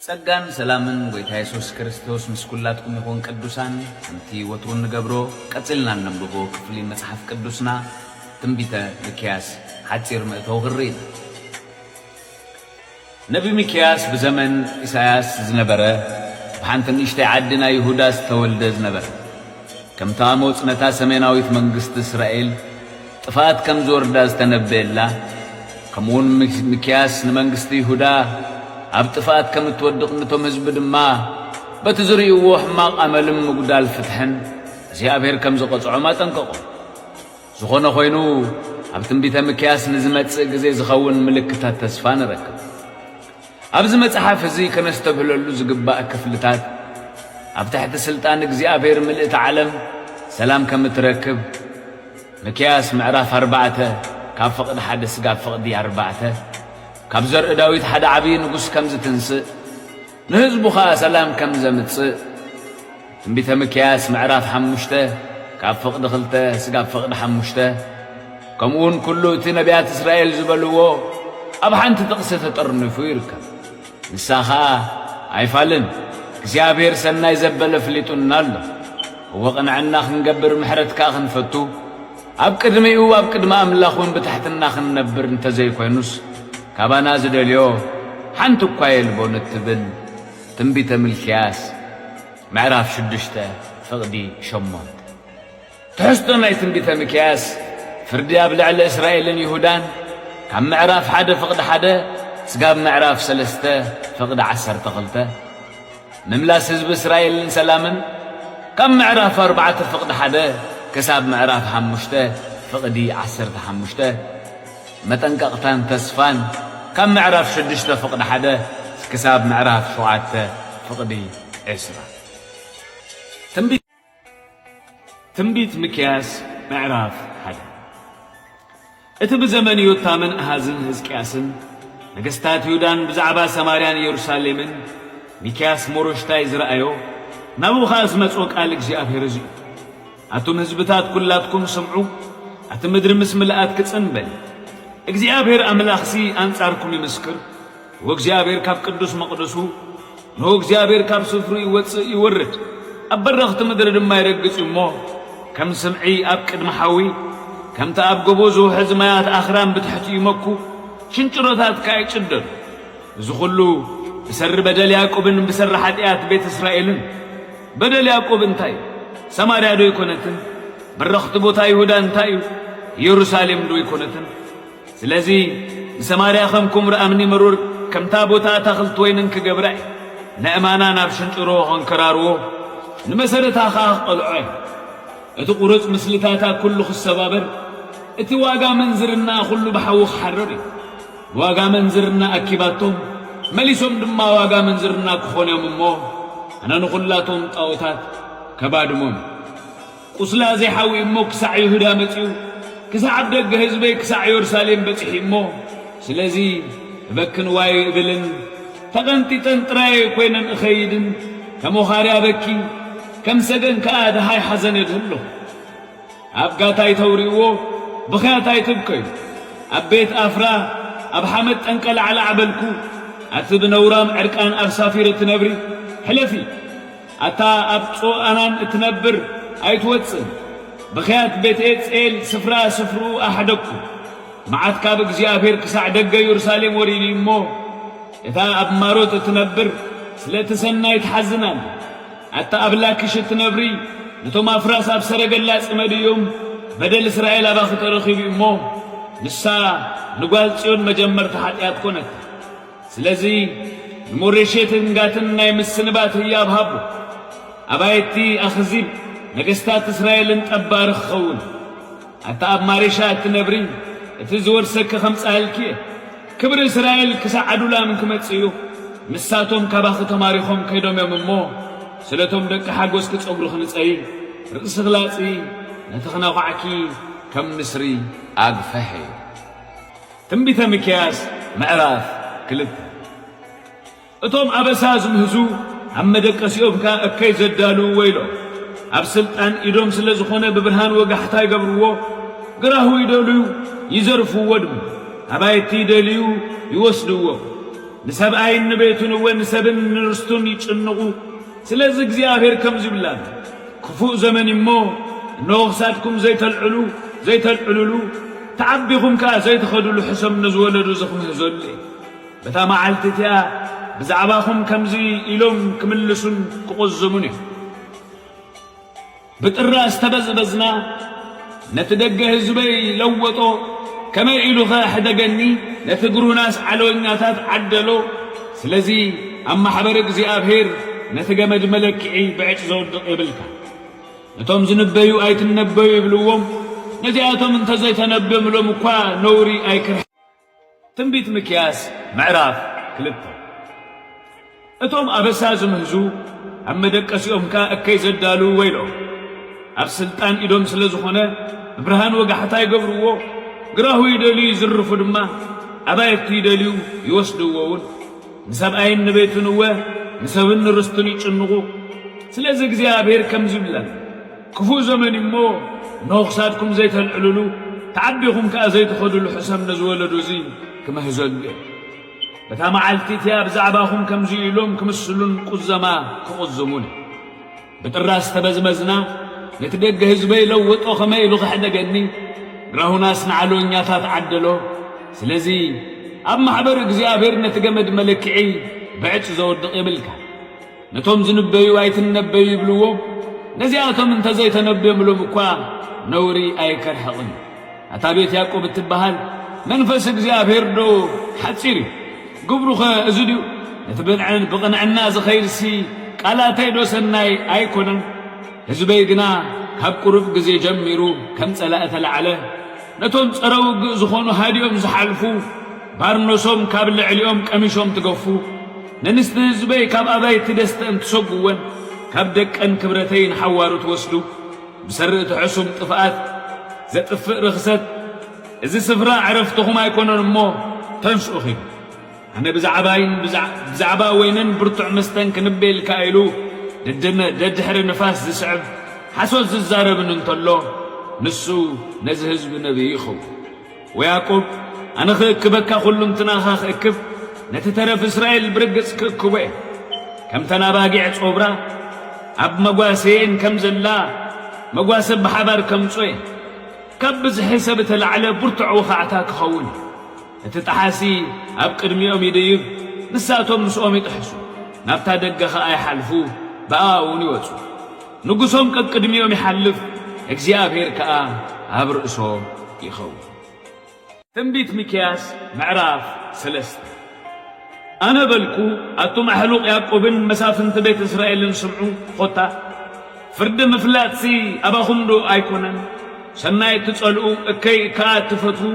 ጸጋን ሰላምን ጎይታ የሱስ ክርስቶስ ምስ ኩላትኩም ይኹን ቅዱሳን ከምቲ ወትሩ እንገብሮ ቀጺልና እነንብቦ ክፍሊ መጽሓፍ ቅዱስና ትንቢተ ሚክያስ ሓጺር መእተዊ ክንርኢ ኢና ነቢ ሚክያስ ብዘመን ኢሳያስ ዝነበረ ብሓንቲ ንእሽተይ ዓዲ ናይ ይሁዳ ዝተወልደ ዝነበረ ከምቲ ኣሞጽ ነታ ሰሜናዊት መንግስቲ እስራኤል ጥፍኣት ከም ዚወርዳ ዝተነበየላ፣ ከምኡውን ሚክያስ ንመንግስቲ ይሁዳ ኣብ ጥፍኣት ከም እትወድቕ ነቶም ህዝቢ ድማ በቲ ዝርእይዎ ሕማቕ ኣመልን ምጕዳል ፍትሕን እግዚኣብሄር ከም ዚቐጽዖም ኣጠንቀቖም። ዝዀነ ዀይኑ፣ ኣብ ትንቢተ ሚክያስ ንዚመጽእ ግዜ ዚኸውን ምልክታት ተስፋ ንረክብ። ኣብዚ መጽሓፍ እዚ ከነስተብህለሉ ዝግባእ ክፍልታት፣ ኣብ ትሕቲ ስልጣን እግዚኣብሔር ምልእቲ ዓለም ሰላም ከም እትረክብ፣ ምክያስ ምዕራፍ ኣርባዕተ ካብ ፍቕዲ ሓደ ስጋብ ፍቕዲ ኣርባዕተ፣ ካብ ዘርኢ ዳዊት ሓደ ዓብዪ ንጉሥ ከም ዝትንሥእ፣ ንሕዝቡ ኸኣ ሰላም ከም ዘምጽእ፣ ትንቢተ ሚክያስ ምዕራፍ ሓሙሽተ ካብ ፍቕዲ ክልተ ስጋብ ፍቕዲ ሓሙሽተ ከምኡውን ኩሉ እቲ ነቢያት እስራኤል ዝበልዎ ኣብ ሓንቲ ጥቕሲ ተጠርኒፉ ይርከብ። ንሳ ኸኣ ኣይፋልን እግዚኣብሔር ሰናይ ዘበለ ፍሊጡና ኣሎ እወ ቕንዕና ክንገብር ምሕረት ከኣ ክንፈቱ ኣብ ቅድሚኡ ኣብ ቅድሚ ኣምላኽ እውን ብታሕትና ክንነብር እንተዘይኮይኑስ ካባና ዝደልዮ ሓንቲ እኳ የልቦን እትብል ትንቢተ ሚልክያስ ምዕራፍ ሽዱሽተ ፍቕዲ ሸሞንተ ትሕዝቶ ናይ ትንቢተ ሚክያስ ፍርዲ ኣብ ልዕሊ እስራኤልን ይሁዳን ካብ ምዕራፍ ሓደ ፍቕዲ ሓደ ስጋብ ምዕራፍ ሰለስተ ፍቕዲ ዓሰርተ ክልተ ምምላስ ህዝቢ እስራኤልን ሰላምን ካብ ምዕራፍ ኣርባዕተ ፍቕዲ ሓደ ክሳብ ምዕራፍ ሓሙሽተ ፍቕዲ ዓሰርተ ሓሙሽተ መጠንቀቕታን ተስፋን ካብ ምዕራፍ ሽዱሽተ ፍቕዲ ሓደ ክሳብ ምዕራፍ ሸውዓተ ፍቕዲ ዕስራ። ትንቢት ትንቢት ሚክያስ ምዕራፍ ሓደ እቲ ብዘመን ዮታምን ኣሃዝን ህዝቅያስን ነገስታት ይሁዳን ብዛዕባ ሰማርያን ኢየሩሳሌምን ሚክያስ ሞሮሽታይ ዝረኣዮ ናብኡ ኸኣ ዝመጽኦ ቃል እግዚኣብሔር እዚ እዩ። ኣቱም ህዝብታት ኵላትኩም ስምዑ፣ ኣቲ ምድሪ ምስ ምልኣት ክጽን በል። እግዚኣብሄር ኣምላኽሲ ኣንጻርኩም ይምስክር፣ ወእግዚኣብሄር ካብ ቅዱስ መቕደሱ፣ እነሆ እግዚኣብሄር ካብ ስፍርኡ ይወጽእ ይወርድ፣ ኣብ በረኽቲ ምድሪ ድማ ይረግጽ እዩ እሞ፣ ከም ስምዒ ኣብ ቅድሚ ሓዊ፣ ከምቲ ኣብ ጎቦ ዝውሕዝ ማያት ኣኽራን ብትሕቲኡ ይመኩ፣ ሽንጭሮታት ከኣ ይጭደዱ። እዚ ዅሉ ብሰሪ በደል ያእቆብን ብሰሪ ሓጢኣት ቤት እስራኤልን። በደል ያእቆብ እንታይ እዩ? ሰማርያዶ ኣይኰነትን? በረኽቲ ቦታ ይሁዳ እንታይ እዩ? ኢየሩሳሌምዶ ኣይኰነትን? ስለዚ ንሰማርያ ኸም ኵምራ እምኒ መሩር፣ ከምታ ቦታ ኣታኽልቲ ወይንን ክገብራ እየ፣ ነእማና ናብ ሽንጭሮ ኸንከራርዎ፣ ንመሰረታ ኸኣ ክቐልዖ እየ። እቲ ቝሩጽ ምስልታታ ኵሉ ኽሰባበር፣ እቲ ዋጋ ምንዝርናኣ ዅሉ ብሓዊ ኽሓርር እዩ። ዋጋ ምንዝርና ኣኪባቶ መሊሶም ድማ ዋጋ ምንዝርና ክኾኑ እዮም እሞ ኣነ ንኹላቶም ጣኦታት ከባድሞም እየ ቁስላ ዘይሓዊ እሞ ክሳዕ ይሁዳ መጺኡ ክሳዕ ኣብ ደገ ህዝበይ ክሳዕ ዮርሳሌም በጺሒ እሞ ስለዚ እበክን ዋይ እብልን ተቐንጢጠን ጥራየ ኮይነን እኸይድን ከም ወኻርያ በኪ ከም ሰገን ከኣ ደሃይ ሓዘን እድህሎ ኣብ ጋታ ኣይተውርይዎ ብኽያት ኣይትብከዩ ኣብ ቤት ኣፍራ ኣብ ሓመድ ጠንቀላዕላዕ በልኩ ኣቲ ብነውራም ዕርቃን ኣብ ሳፊር እትነብሪ ሕለፊ ኣታ ኣብ ጾኣናን እትነብር ኣይትወጽእን ብኽያት ቤትኤ ጼል ስፍራ ስፍርኡ ኣሕደግኩ መዓት ካብ እግዚኣብሔር ክሳዕ ደገ ዮርሳሌም ወሪዲ እሞ እታ ኣብ ማሮት እትነብር ስለ እቲ ሰናይ ትሓዝን ኣላ ኣታ ኣብላ ክሽቲ ነብሪ ነቶም ኣፍራስ ኣብ ሰረገላ ጽመድዮም በደል እስራኤል ኣባኺ ተረኺቡ እዩ እሞ ንሳ ንጓል ጽዮን መጀመርቲ ሓጢኣት ኮነት ስለዚ ንሞሬሼትን ጋትን ናይ ምስንባት ህያብ ሃቦ ኣባይቲ ኣኽዚብ ነገስታት እስራኤልን ጠባሪ ክኸውን ኣታ ኣብ ማሪሻ እትነብሪ እቲ ዝወርሰኪ ከምጻኣልኪ እየ ክብሪ እስራኤል ክሳዕ ኣዱላም ክመጽእ እዩ ንሳቶም ካባኺ ተማሪኾም ከይዶም እዮም እሞ ስለቶም ደቂ ሓጎስኪ ጸጉርኺ ንጸይ ርእስኺ ላጺ ነቲ ክነዃዕኪ ከም ንስሪ ኣግፈሔ። ትንቢተ ሚክያስ ምዕራፍ ክልተ። እቶም ኣበሳ ዝምህዙ ኣብ መደቀሲኦም ከኣ እከይ ዘዳልዉ ወይሎም። ኣብ ስልጣን ኢዶም ስለ ዝኾነ ብብርሃን ወጋሕታ ይገብርዎ፣ ግራሁ ይደልዩ ይዘርፍዎ ድማ። ኣባይቲ ይደልዩ ይወስድዎ። ንሰብኣይን ንቤቱን እወ ንሰብን ንርስቱን ይጭንቑ። ስለዚ እግዚኣብሔር ከምዚ ይብል ኣሎ፣ ክፉእ ዘመን እዩ እሞ፣ እነሆ ክሳድኩም ዘይተልዕሉ ዘይተልዕሉሉ፣ ተዓቢኹም ከኣ ዘይትኸዱሉ ሕሰም ነዝወለዶ እዚ ክምህዘሉ እየ። በታ መዓልቲ እቲኣ ብዛዕባኹም ከምዚ ኢሎም ክምልሱን ክቑዝሙን እዮም። ብጥራ ዝተበዝበዝና ነቲ ደገ ህዝበይ ለወጦ፣ ከመይ ኢሉ ኸ ኣሕደገኒ፣ ነቲ ግሩናስ ዓለወኛታት ዓደሎ። ስለዚ ኣብ ማሕበር እግዚኣብሔር ነቲ ገመድ መለክዒ ብዕጭ ዘውድቕ የብልካ። ነቶም ዝንበዩ ኣይትነበዩ ይብልዎም፣ ነዚኣቶም እንተዘይተነብዮምሎም እኳ ነውሪ ኣይክር ትንቢት ሚክያስ ምዕራፍ ክልተ እቶም ኣበሳ ዝምህዙ ኣብ መደቀሲኦም ከኣ እከይ ዘዳልዉ ወይልኦም። ኣብ ስልጣን ኢዶም ስለ ዝኾነ ብብርሃን ወጋሕታ ይገብርዎ፣ ግራሁ ይደልዩ ይዝርፉ ድማ፣ ኣባይቲ ይደልዩ ይወስድዎውን። ንሰብኣይን ንቤቱን እወ ንሰብን ንርስቱን ይጭንቑ። ስለዚ እግዚኣብሄር ከምዚ ይብል ኣሎ። ክፉእ ዘመን እዩ እሞ እነሆ ክሳድኩም ዘይተልዕልሉ ተዓቢኹም ከኣ ዘይትኸድሉ ሕሰም ነዚ ወለዶ እዚ ክመህዘሉ እየ። በታ መዓልቲ እቲኣ ብዛዕባኹም ከምዚ ኢሎም ክምስሉን ቁዘማ ክቑዝሙን እየ። ብጥራስ ተበዝበዝና፣ ነቲ ደገ ህዝበይ ለወጦ ከመይ ኢሉ ከሕደገኒ፣ ግራሁናስ ንዓለወኛታት ዓደሎ። ስለዚ ኣብ ማሕበር እግዚኣብሔር ነቲ ገመድ መለክዒ ብዕፅ ዘወድቕ የብልካ። ነቶም ዝንበዩ ኣይትነበዩ ይብልዎም፣ ነዚኣቶም እንተ ዘይተነብዮምሎም እኳ ነውሪ ኣይከርሕቕን። ኣታ ቤት ያእቆብ እትበሃል፣ መንፈስ እግዚኣብሄርዶ ሓጺር እዩ? ግብሩኸ እዚ ድዩ? ነቲ ብንዕን ብቕንዕና ዚኸይድሲ ቃላተይዶ ሰናይ ኣይኰነን? ህዝበይ ግና ካብ ቁሩብ ግዜ ጀሚሩ ከም ጸላኢ ተላዕለ፣ ነቶም ጸረ ውግእ ዝዀኑ ሃዲኦም ዝሓልፉ ባርኖሶም ካብ ልዕሊኦም ቀሚሾም ትገፉ። መንስቲ ህዝበይ ካብ ኣባይቲ ደስተእን ትሰጉወን ካብ ደቀን ክብረተይ ንሓዋሩ ትወስዱ ብሰሪ እቲ ሕሱም ጥፍኣት ዘጥፍእ ርኽሰት እዚ ስፍራ ዕረፍትኹም ኣይኮነን እሞ ተንስኡ ኺዱ ኣነ ብዛዕባይን ብዛዕባ ወይንን ብርቱዕ መስተን ክንበ ኢልካ ኢሉ ደድሕሪ ንፋስ ዝስዕብ ሓሶት ዝዛረብን እንተሎ ንሱ ነዚ ህዝቢ ነብዩ ይኸውን። ወያቆብ ኣነ ኽእክበካ ዅሉንትናኻ ኽእክብ ነቲ ተረፍ እስራኤል ብርግጽ ክእክቦ እየ። ከምተን ኣባጊዕ ጾብራ ኣብ መጓሰየን ከም ዘላ መጓሰ ብሓባር ከምጾ እየ። ካብ ብዝሒ ሰብ እተላዕለ ብርቱዕ ወኻዕታ ክኸውን እዩ። እቲ ጠሓሲ ኣብ ቅድሚኦም ይድይብ ንሳቶም ምስኦም ይጥሕሱ ናብታ ደገ ኸኣ ይሓልፉ ብኣኣ'ውን ይወጹ። ንጉሶም ቀቅድሚኦም ይሓልፍ፣ እግዚኣብሄር ከኣ ኣብ ርእሶም ይኸውን። ትንቢት ሚክያስ ምዕራፍ ሰለስተ ኣነ በልኩ፣ ኣቱም ኣሕሉቕ ያእቆብን መሳፍንቲ ቤት እስራኤልን ስምዑ፣ ዀታ ፍርዲ ምፍላጥሲ ኣባኹምዶ ኣይኰነን? ሰናይ እትጸልኡ፣ እከይ ከኣ እትፈትዉ፣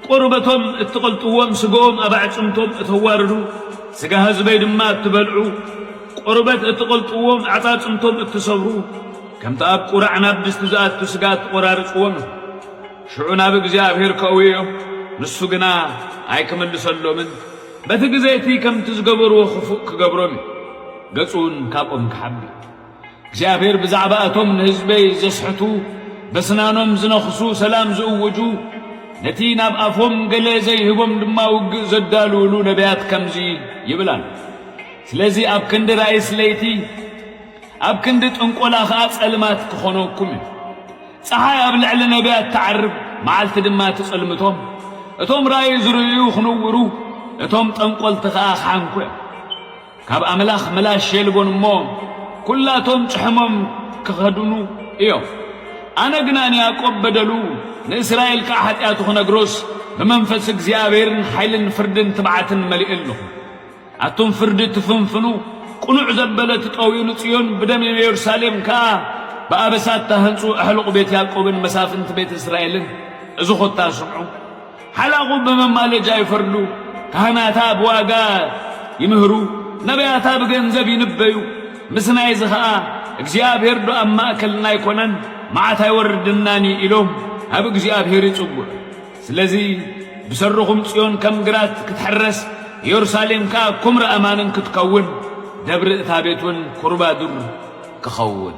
ቆርበቶም እትቐልጥዎም ስግኦም ኣብ ኣዕጽምቶም እተዋርዱ ስጋ ህዝበይ ድማ እትበልዑ ቆርበት እትቐልጥዎም ኣዕጻጽምቶም እትሰብሩ ከምቲ ኣብ ቁራዕ ናብ ድስቲ ዝኣቱ ስጋ እትቖራርጽዎም እዮም። ሽዑ ናብ እግዚኣብሔር ከእውዮ ንሱ ግና ኣይክምልሰሎምን በቲ ግዜ እቲ ከምቲ ዝገበርዎ ክፉእ ክገብሮም እዩ ገጹውን ካብኦም ክሓቢ። እግዚኣብሔር ብዛዕባ እቶም ንህዝበይ ዘስሕቱ በስናኖም ዝነኽሱ ሰላም ዝእውጁ ነቲ ናብ ኣፎም ገለ ዘይህቦም ድማ ውግእ ዘዳልውሉ ነቢያት ከምዚ ይብላል። ስለዚ ኣብ ክንዲ ራእይስ ለይቲ ኣብ ክንዲ ጥንቆላ ኸኣ ጸልማት ክኾነኩም እዩ። ፀሓይ ኣብ ልዕሊ ነቢያት ትዓርብ፣ መዓልቲ ድማ ትጽልምቶም። እቶም ራእይ ዝርእዩ ክንውሩ፣ እቶም ጠንቈልቲ ኸኣ ክሓንኩ እዮም። ካብ ኣምላኽ ምላሽ የልቦን እሞ፣ ኵላቶም ጭሕሞም ኪኸድኑ እዮም። ኣነ ግና ንያእቆብ በደሉ፣ ንእስራኤል ከኣ ሓጢኣቱ ክነግሮስ፣ ብመንፈስ እግዚኣብሔርን ሓይልን ፍርድን ትብዓትን መሊኤ ኣሎኹ። ኣቱም ፍርዲ እትፍንፍኑ፣ ቅኑዕ ዘበለ ትጠውዩ፣ ንጽዮን ብደም ንየሩሳሌም ከኣ ብኣበሳ እተሃንጹ፣ ኣሕሉቕ ቤት ያእቆብን መሳፍንቲ ቤት እስራኤልን፣ እዚ ዀታ ስምዑ። ሓላቑ ብመማለጃ ይፈርዱ፣ ካህናታ ብዋጋ ይምህሩ፣ ነብያታ ብገንዘብ ይንበዩ፣ ምስናይዚ ኸኣ እግዚኣብሄርዶ ኣብ ማእከልና ኣይኰነን፣ መዓት ኣይወርድናን እዩ ኢሎም ናብ እግዚኣብሄር ይጽውዑ። ስለዚ ብሰሩኹም ጽዮን ከም ግራት ክትሕረስ፣ የሩሳሌም ከኣ ኵምራ ኣማንን ክትከውን፣ ደብሪ እታ ቤትውን ኵርባ ዱር ክኸውን።